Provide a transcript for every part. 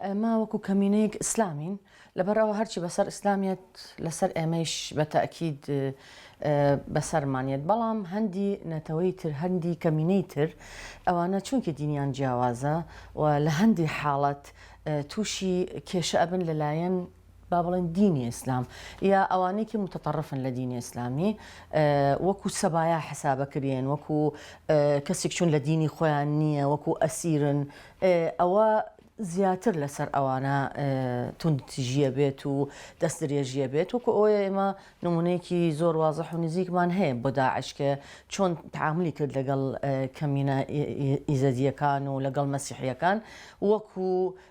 ئێمە وەکو کەمینەیەک ئیسلامین لەبەر ئەوە هەرچی بەسەر ئیسلامیەت لەسەر ئێمەیش بە تاکید بەسەرمانێت بەڵام هەندی نەتەوەی تر هەندی کەمینەی تر ئەوانە چونکی دینیان جیاوازە و لە هەندی حاڵەت تووشی کێشە ئەبن لەلایەن با بڵێن دینی ئیسلام یا ئەوانێکی متتەڕفن لە دینی ئیسلامی وەکو سەبایا حسابەکرێن وەکو کەسێک چون لە دینی خۆیان نییە وەکو ئەسیرن ئەوە زیاتر لەسەر ئەوانە توندتیژیە بێت و دەست درێژیە بێت وەکو ئەوە ئێمە نمونەیەکی زۆر وازە و نزیکمان هەیە بۆ داعشکە چۆن تعاملی کرد لەگەڵ کەمینە ئیزەدیەکان و لەگەڵ مەسیحیەکان وەکو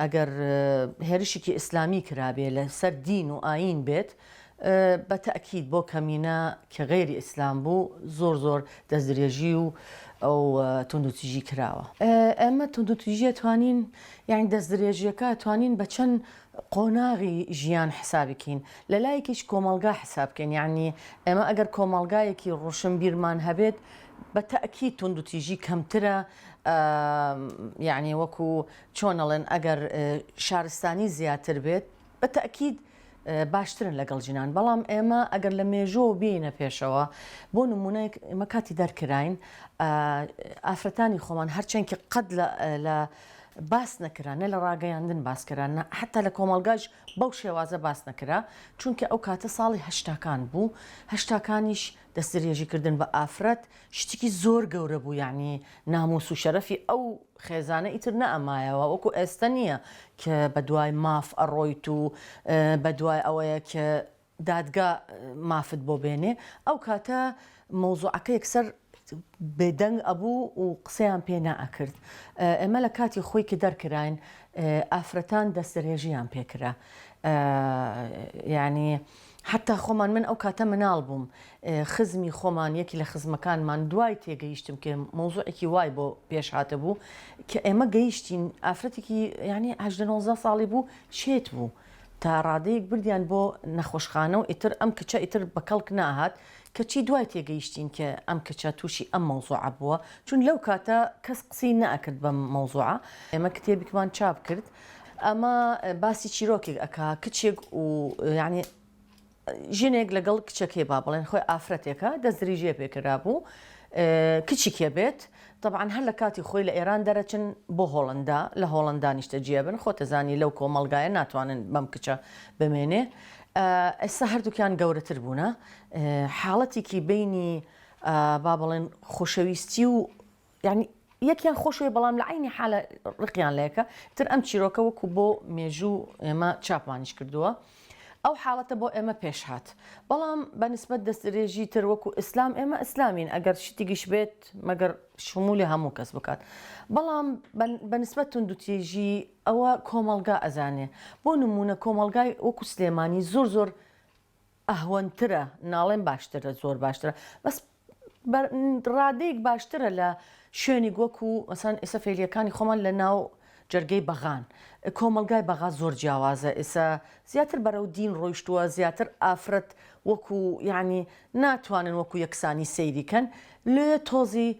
ئەگەر هێرشیکی ئیسلامی کرابێ لە سەر دین و ئایین بێت بە تەئکید بۆ کەمینە کە غەیری ئیسلام بوو زۆر زۆر دەست درێژی و ئەو توندوتیژی کراوە ئێمە توندوتیژیە توانین یعنی دەست درێژیەکە توانین بە چەند قۆناغی ژیان حسابکەین لە لایەکیش کۆمەلگا حسابکەین یعنی ئێمە ئەگەر کۆمەلگایەکی ڕۆشن بیرمان هەبێت بە تەئکید توندوتیژی کەمترە یعنی وەکو چۆن ئەڵێن ئەگەر شارستانی زیاتر بێت بە تەئکید باشترن لەگەڵ جنان بەڵام ئێمە ئەگەر لە مێژۆ بینە پێشەوە بۆ نمونەیەک ئمە کاتی دەرکراین ئافرەتانی خۆمان هەرچەندکی قەت لە باس نەکرا نە لە ڕاگەیاندن باسکران حتا لە کۆمەلگاش بەو شێوازە باس نەکرا چونکە ئەو کاتە ساڵی هەشتاکان بوو هەشتاکانیش دەستریێژیکردن بە ئافرەت شتێکی زۆر گەورە بوو یعنی ناموس و شەرەفی ئەو خێزانە ئیتر نەئەمایەوە وەکو ئێستە نیە ک بەدوای ماف ئەڕۆیت و بەدوای ئەوەیە ک دادگا مافت بۆ بێنێ ئەو کاتە مەوزوعەکە یەکسەر بێدەنگ ئەبوو و قسەیان پێ نەئەکرد ئێمە لە کاتی خۆی ک دەرکراین ئافرەتان دەستدرێژیان پێ کرا یانی حەتا خۆمان من ئەو کاتە مناڵ بووم خزمی خۆمان یەکی لە خزمەکانمان دوای تێگەیشتم کە مەوزوعێکی وای بۆ پێش هاتبوو کە ئێمە گەیشتین ئافرەتێکی یعنی هەژدە نۆزدە ساڵی بوو شێت بوو تا ڕادەیەک بردیان بۆ نەخۆشخانە و ئیتر ئەم کچە ئیتر بە کەڵک ناهات کەچی دوای تێگەیشتین کە ئەم کچە تووشی ئەم مەوزوعە بووە چون لەو کاتە کەس قسەی نەئەکرد بەم مەوزوعە ئێمە کتێبێکمان چاپ کرد ئەمە باسی چیرۆکێک ئەکا کچێک و یعنی ژنێک لەگەڵ کچەکەی با بڵێن خۆی ئافرەتێکە دەستریژێ پێکرا بوو کچی کێ بێت طبعا هەر لە کاتی خۆی لە ئێران دەرەچن بۆ هۆڵندا لە هۆڵندا نیشتە جێ بن خۆتەزانی لەو کۆمەلگایە ناتوانن بەم کچە بمێنێ ئێستا هەردووکیان گەورەتر بوونە حاڵەتێکی بینی با بڵێن خۆشەویستی و یانی یەکیان خۆشوێ بەڵام لە عینی حالە ڕقیان لەیەکە تر ئەم چیرۆکە وەکو بۆ مێژوو ئێمە چاپمانیش کردووە ئەو حاڵەتە بۆ ئێمە پێش هاات بەڵام بە نسبت دەسترێژی تر وەکو ئیسلام ئێمە ئیسلامین ئەگەر شتیگیش بێت مەگەر شمولی هەموو کەس بکات بەڵام بە نسبت توندوتێژی ئەوە کۆمەلگا ئەزانێ بۆ نمونە کۆمەلگای وەکو سلێمانی زۆر زۆر ئەهوەنترە ناڵێم باشترە زۆر باشترە بەس بە ڕادەیەک باشترە لە شوێنیک وەکو مەسەن ئێستا فێلیەکانی خۆمان لە ناو جەرگەی بەغان کۆمەلگای بەغا زۆر جیاوازە ئێسا زیاتر بەرەو دین ڕۆیشتووە زیاتر ئافرەت وەکو یعنی ناتوانن وەکو یەکسانی سەیریکەن لێ تۆزی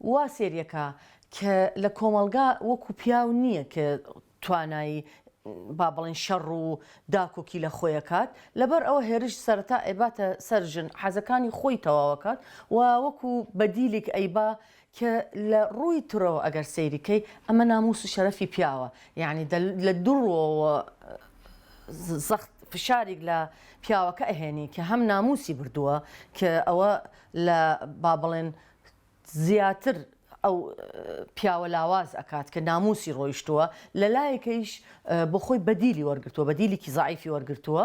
وا سێریەکا کە لە کۆمەڵگا وەکو پیاو نیە کە توانایی با بڵێن شەڕ و داکۆکی لە خۆی کات لەبەر ئەوە هێرش سەرەتا ئەیباتە سەر ژن حەزەکانی خۆی تەواوەکات و وەکو بەدیلیک ئەیبا کە لە ڕووی ترەوە ئەگەر سەیری کەی ئەمە ناموس و شەرەفی پیاوە یانی لە دوو ڕووەوە زەخت فشاریک لە پیاوەکە ئەهێنی کە هەم ناموسی بردووە کە ئەوە لە با بڵێن زیاتر ئەو پیاوە لاواز ئەکات کە ناموسی ڕۆیشتووە لەلایەکەیش بۆخۆی بەدیلی وەرگتووە بەدیلێکی زعیفی وەرگتووە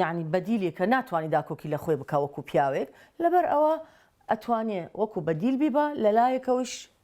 یعنی بەدیلی کە ناتوانانی داکۆکی لە خۆی بکە وەکو پیاوێک لەبەر ئەوە ئەتوانێ وەکو بەدیل بیبا لەلایەکەوەش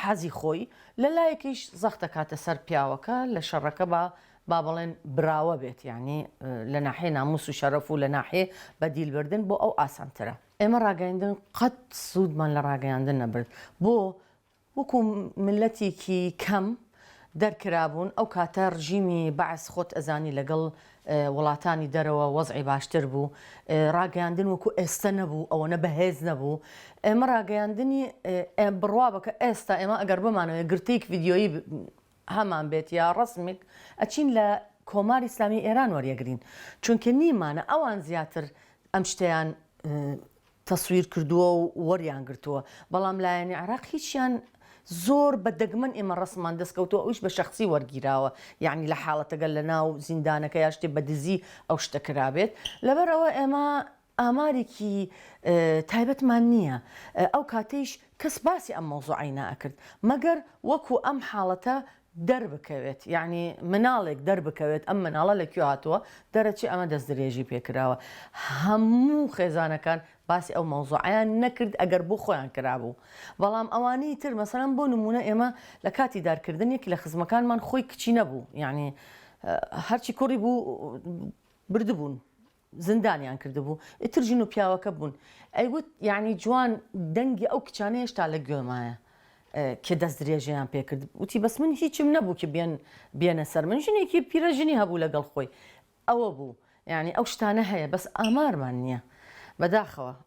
حەزی خۆی، لە لایەکیش زەخت دەکاتە سەر پیاوەکە لە شەڕەکە با با بڵێن براوە بێت یانی لە ناحیەی ناموس و شەرەف و لە ناحیەی بە دیل بردن بۆ ئەو ئاسانترە. ئێمە ڕاگەیندن قەت سوودمان لە ڕاگەیاندن نەبرد بۆ وەکو میللەتیکی کەم دەرکرابوون ئەو کاتە ڕژیمی بەعس خۆت ئەزانی لەگەڵ وڵاتانی دەرەوە وەزعی باشتر بوو ڕاگەیاندن وەکو ئێستە نەبوو ئەوەنە بەهێز نەبوو ئێمە ڕاگەیاندنی بڕوا بکە ئێستا ئێمە ئەگەر بمانەوەێ گرتیک یددیۆیی هەمان بێت یا ڕسمێک ئەچین لە کۆماری ئسلامی ئێران وەریەگرین چونکە نیمانە ئەوان زیاتر ئەم شتیان تەسویر کردووە و وەریان گرتووە بەڵام لایەنی عێراق هیچیان زۆر بە دەگمەن ئێمە ڕەسممان دەست کەوتووە ئەویش بە شەخسی وەرگیراوە یانی لە حاڵەتە گەر لە ناو زیندانەکە یا شتێ بە دزی ئەو شتە کرابێت لەبەر ئەوە ئێمە ئامارێکی تایبەتمان نییە ئەو کاتەیش کەس باسی ئەم مەوزوعەی ناکرد مەگەر وەکو ئەم حاڵەتە دەربکەوێت یانی مناڵێک دەربکەوێت ئەم مناڵە لە کوێ هاتووە دەرەچێ ئەمە دەست درێژی پێ کراوە هەموو خێزانەکان باسی ئەو مەوزوعیان نەکرد ئەگەر بۆ خۆیان کرابوو بەڵام ئەوانەی تر مەسەرم بۆ نمونە ئێمە لە کاتی دارکردنێکی لە خزمەکانمان خۆی کچی نەبوو یعنی هەرچی کوڕی بوو بردبوون زندانیان کردبوو ئیتر ژن و پیاوەکە بوون ئەیوت یانی جوان دەنگی ئەو کچانە هێشتا لە گوێمایە کە دەست درێژەیان پێکرد وتی بەس من هیچم نەبوو کە بێن بێنە سەر من ژنێکی پیرە ژنی هەبوو لەگەڵ خۆی ئەوە بوو یعنی ئەو شتانە هەیە بەس ئامارمان نییە بەداخەوە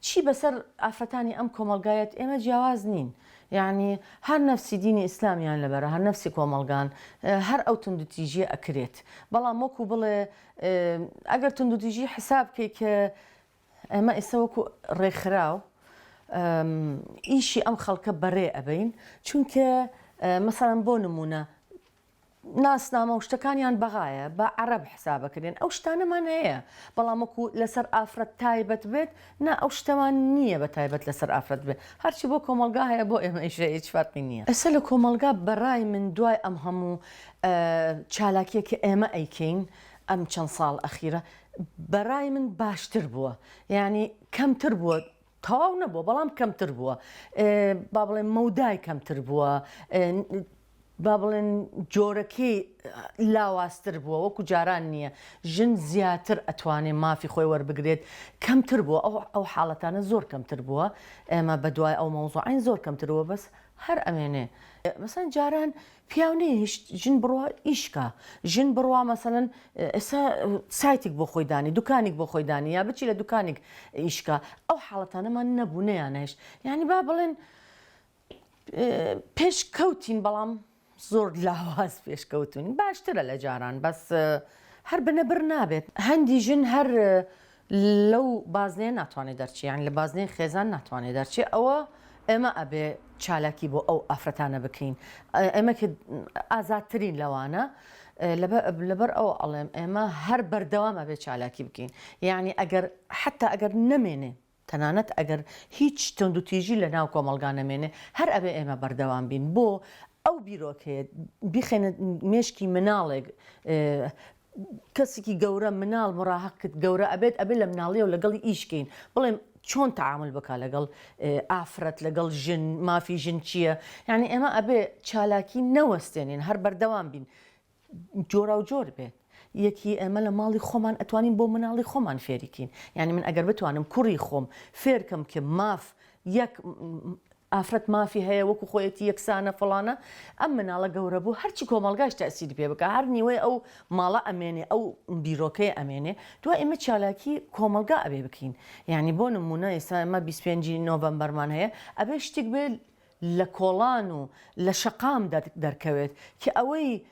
چی بەسەر ئافرەتانی ئەم کۆمەڵگا یەت ئێمە جیاواز نین یەعنی هەر نەفسی دینی ئیسلامیان لەبەرە هەر نەفسی کۆمەڵگان هەر ئەو توندوتیژیە ئەکرێت بەڵام وەکو بڵێ ئەگەر توندوتیژی حساب کەی کە ئێمە ئیسە وەکو ڕێکخراو ئیشی ئەم خەڵکە بەرێ ئەبەین چونکە مەسەڵەن بۆ نمونە ناسنامە و شتەکانیان بەغایە با عەرەب حسابەکرێن ئەو شتانەمان هەیە بەڵام وەکو لەسەر ئافرەت تایبەت بێت نا ئەو شتەمان نییە بە تایبەت لەسەر ئافرەت بێت هەرچی بۆ کۆمەڵگا هەیە بۆ ئێمەیش هەیە هیچ فەرقی نییە. ئێستا لە کۆمەڵگا بەڕای من دوای ئەم هەموو چالاکییە کە ئێمە ئەیکەین ئەم چەند ساڵ ئەخیرە بەڕای من باشتر بووە یانی کەمتر بووە تەواو نەبووە بەڵام کەمتر بووە با بڵێن مەودای کەمتر بووە با بڵێن جۆرەکەی لاوازتر بووە وەکو جاران نییە ژن زیاتر ئەتوانێت مافی خۆی وەربگرێت کەمتر بووە ئەو ئەو حاڵەتانە زۆر کەمتر بووە ئێمە بە دوای ئەو مەوزوعین زۆر کەمتر بووە بەس هەر ئەمێنێ مەسەن جاران پیاو نەیهشت ژن بڕوا ئیش کا ژن بڕوا مەسەلەن ئێسا سایتیک بۆ خۆی دانی دوکانیک بۆ خۆی دانی یا بچی لە دوکانیک ئیش کا ئەو حاڵەتانەمان نەبوو نەیانهشت یعنی با بڵێن پێش کەوتین بەڵام زۆر لاواز پێشکەوتونی باشترە لە جاران بەس هەر بنەبر نابێت هەندی ژن هەر لەو بازنەیە ناتوانێ دەرچێ یانی لە بازنەی خێزان ناتوانێ دەرچێ ئەوە ئێمە ئەبێ چالاکی بۆ ئەو ئافرەتانە بکەین ئێمە ئازادترین لەوانە لەبەر ئەو ئەڵێم ئێمە هەر بەردەوام ئەبێ چالاکی بکەین یعنی ئەگەر حتا ئەگەر نەمێنێ تەنانەت ئەگەر هیچ تەند و تیژی لە ناو کۆمەلگا نەمێنێ هەر ئەبێ ئێمە بەردەوام بین بۆ ئەو بیرۆکەیە بیخێنە مێشکی مناڵێک کەسیکی گەورە مناڵ مڕاهەقکت گەورە ئەبێت ئەبێ لە مناڵیەوە لەگەڵی ئیش کەین بڵێم چۆن تەعامول بکا لەگەڵ ئافرەت لەگەڵ ژن مافی ژن چیە یانی ئێمە ئەبێ چالاکی نەوەستێنین هەر بەردەوام بین جۆراو جۆر بێت یەکی ئێمە لە ماڵی خۆمان ئەتوانین بۆ مناڵی خۆمان فێریکین یانی من ئەگەر بتوانم کوڕی خۆم فێرکەم کە ماف یەک ئافرەت مافی هەیە وەکو خۆیەتی یەکسانە فڵانە ئەم مناڵە گەورە بوو هەرچی کۆمەڵگاش تەسیری پێ بکە هەر نیوەی ئەو ماڵە ئەمێنێ ئەو بیرۆکەی ئەمێنێ دوای ئمە چالاکی کۆمەلگا ئەبێ بکەین یعنی بۆ نمونە ئێستا ئمە 25 نۆڤەمبەرمان هەیە ئەبێ شتیک بێ لە کۆڵان و لە شەقام دەرکەوێت کە ئەوەی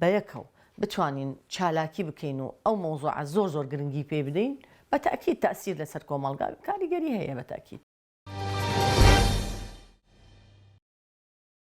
بەیەکەوە بتوانین چالاکی بکەین و ئەو مەوزوعە زۆر زۆر گرنگی پێی بدەین بە تەئکید تەئسیر لەسەر کۆمەڵگا کاریگەری هەیە بە تەئکید.